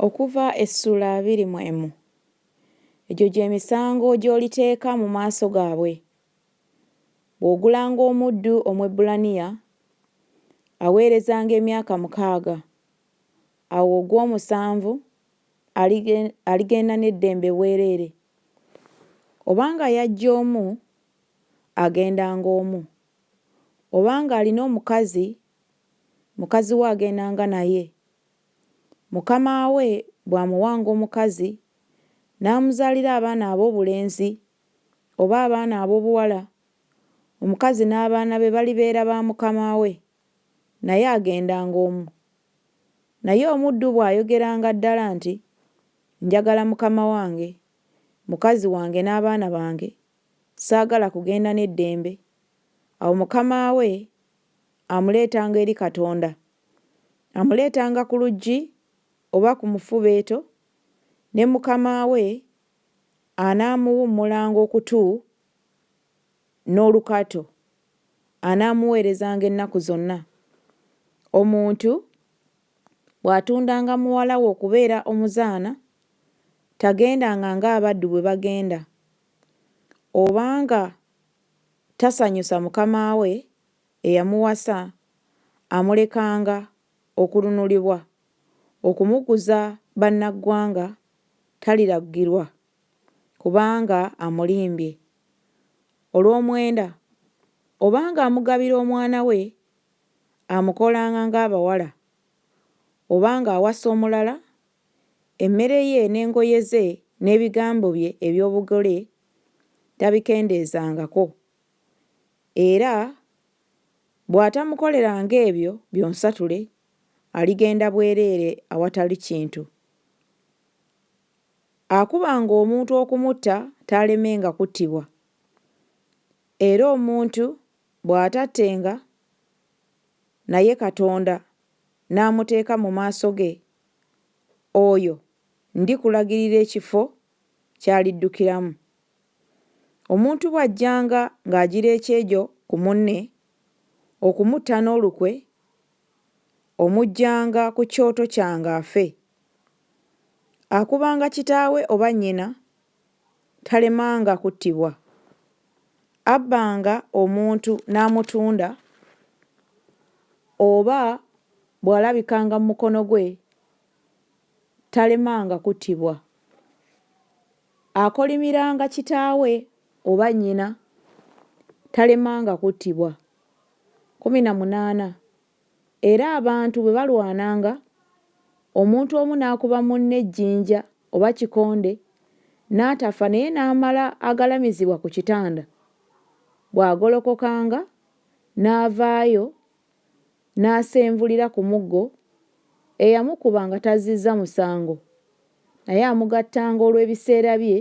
Okuva essuula abiri mu emu. Egyo gye misango gy'oliteeka mu maaso gaabwe, Bw'ogulanga omuddu Omwebbulaniya, aweerezanga emyaka mukaaga, awo ogw'omusanvu alige, aligenda n'eddembe bwereere. Obanga yajja omu, agendanga omu. Obanga alina omukazi, mukazi we agendanga naye. Mukama we bw'amuwanga omukazi, n'amuzaalira abaana ab'obulenzi oba abaana ab'obuwala, omukazi n'abaana be balibeera ba mukama we, naye agendanga omu. Naye omuddu bw'ayogeranga ddala nti, Njagala mukama wange, mukazi wange n'abaana bange, saagala kugenda n'eddembe, awo mukama we amuleetanga eri Katonda. Amuleetanga ku luggi oba ku mufubeeto, ne mukama we anaamuwummulanga okutu n'olukato, anaamuweerezanga ennaku zonna. Omuntu bw'atundanga muwala we okubeera omuzaana, tagendanga ng'abaddu bwe bagenda, obanga tasanyusa mukama we eyamuwasa amulekanga okulunulibwa, okumuguza bannaggwanga taliragirwa kubanga amulimbye olw'omwenda oba ng'amugabira omwana we amukolanga ng'abawala oba ng'awasa omulala, emmere ye n'engoye ze n'ebigambo bye eby'obugole tabikendeezangako, era bw'atamukoleranga ebyo byonsatule, aligenda bwereere awatali kintu. Akubanga omuntu okumutta taalemenga kuttibwa, era omuntu bw'atattenga naye Katonda n'amuteeka mu maaso ge, oyo ndikulagirira ekifo ky'aliddukiramu. Omuntu bw'ajjanga ng'agira ekyejo ku munne, okumutta n'olukwe, omuggyanga ku kyoto kyange afe. Akubanga kitaawe oba nnyina talemanga kuttibwa. Abbanga omuntu n'amutunda oba bw'alabikanga mu mukono gwe Talemanga kuttibwa. Akolimiranga kitaawe oba nnyina talemanga kuttibwa. Kkumi na munaana, Era abantu bwe balwananga, omuntu omu n'akuba munne ejjinja oba kikonde n'atafa naye n'amala agalamizibwa ku kitanda, bw'agolokokanga n'avaayo n'asenvulira ku muggo, eyamukuba nga tazzizza musango naye amugattanga olw'ebiseera bye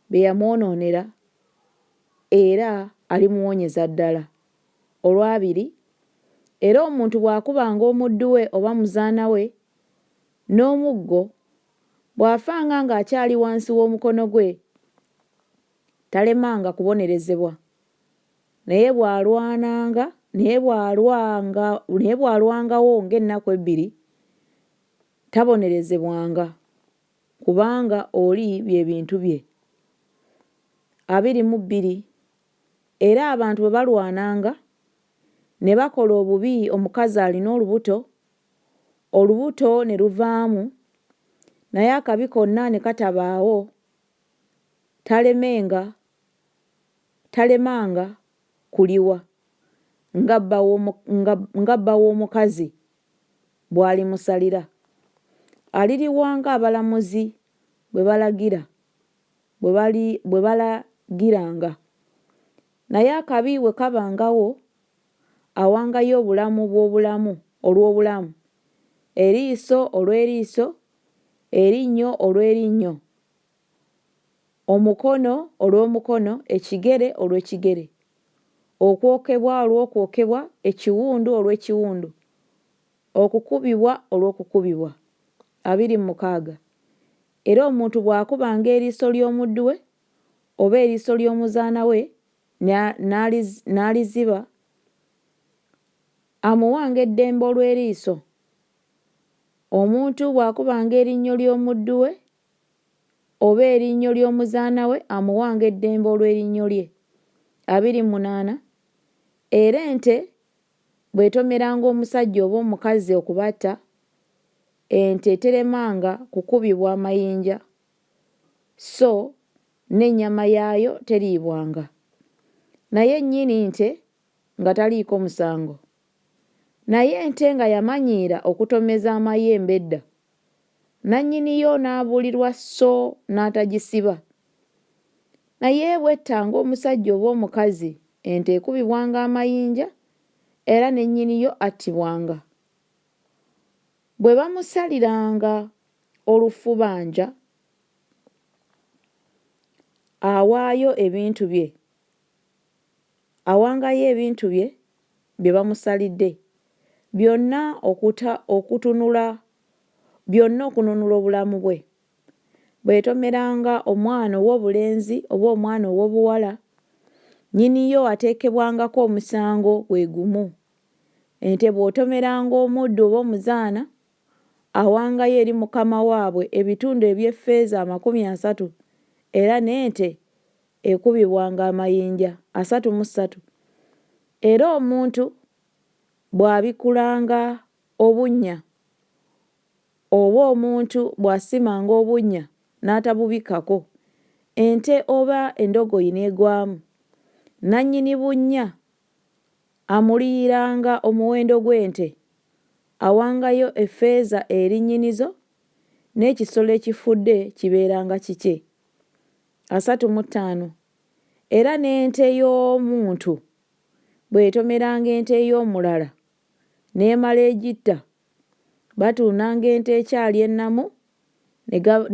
bye yamwonoonera era alimuwonyeza ddala. Olwabiri, era omuntu bw'akubanga omuddu we oba muzaana we n'omuggo, bw'afanga ng'akyali wansi w'omukono gwe, talemanga kubonerezebwa. Naye bw'alwananga, naye bw'alwanga, naye bw'alwangawo ng'ennaku ebbiri, tabonerezebwanga, kubanga oli bye bintu bye. Abiri mu bbiri Era abantu bwe balwananga, ne bakola obubi omukazi alina olubuto, olubuto ne luvaamu, naye akabi konna ne katabaawo, talemenga talemanga kuliwa nga bba w'omukazi bw'alimusalira. Aliriwa ng'abalamuzi bwe balagira, bwe balagiranga. Naye akabi bwe kabangawo, awangayo obulamu bw'obulamu olw'obulamu, eriiso olw'eriiso, erinnyo olw'erinnyo. Omukono olw'omukono, ekigere olw'ekigere, okwokebwa olw'okwokebwa, ekiwundu olw'ekiwundu, okukubibwa olw'okukubibwa. Abiri mu mukaaga. Era omuntu bw'akubanga eriiso ly'omuddu we, oba eriiso ly'omuzaana we, ne, n'aliziba, amuwanga eddembe olw'eriiso. Omuntu bw'akubanga erinnyo ly'omuddu we, oba erinnyo ly'omuzaana we amuwanga eddembe olw'erinnyo lye. Abiri mu munaana, Era ente bw'etomeranga omusajja oba omukazi okubatta, ente teremanga kukubibwa mayinja, sso n'ennyama yaayo teriibwanga. Naye nnyini nte nga taliiko musango. Naye ente nga yamanyiira okutomeza amayembe edda, nannyini yo n'abuulirwa sso n'atagisiba. Naye bw'ettanga omusajja oba omukazi, ente ekubibwanga amayinja era ne nnyini yo attibwanga. Bwe bamusaliranga olufubanja, awaayo ebintu bye awangayo ebintu bye bye bamusalidde byonna okuta okutunula byonna okununula obulamu bwe. Bweyetomeranga omwana ow'obulenzi oba omwana ow'obuwala, nnyini yo ateekebwangako omusango gwe gumu. Ente bw'otomeranga omuddu oba omuzaana, awangayo eri mukama waabwe ebitundu eby'effeeza amakumi asatu, era n'ente ekubibwanga amayinja asatu mu ssatu, era omuntu bw'abikulanga obunnya, oba omuntu bw'asimanga obunnya n'atabubikkako, ente oba endogoyi n'egwamu, nannyini bunnya amuliyiranga omuwendo gw'ente, awangayo effeeza eri nnyinizo, n'ekisolo ekifudde kibeeranga kikye. asatu mu ttaano, era n'ente y'omuntu bw'etomeranga ente ey'omulala n'emala egitta, batundanga ente ekyali ennamu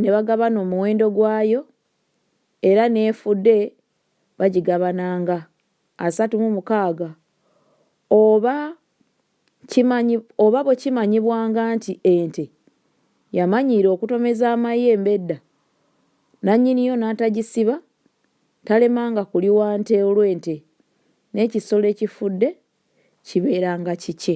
ne bagabana omuwendo gwayo, era n'efudde bagigabananga asatu mu mukaaga, oba. Kimanyi, oba bwe kimanyibwanga nti ente yamanyiira okutomeza amayembe edda, nannyini yo n'atagisiba, talemanga kuliwa nte olw'ente, n'ekisolo ekifudde kibeeranga kikye.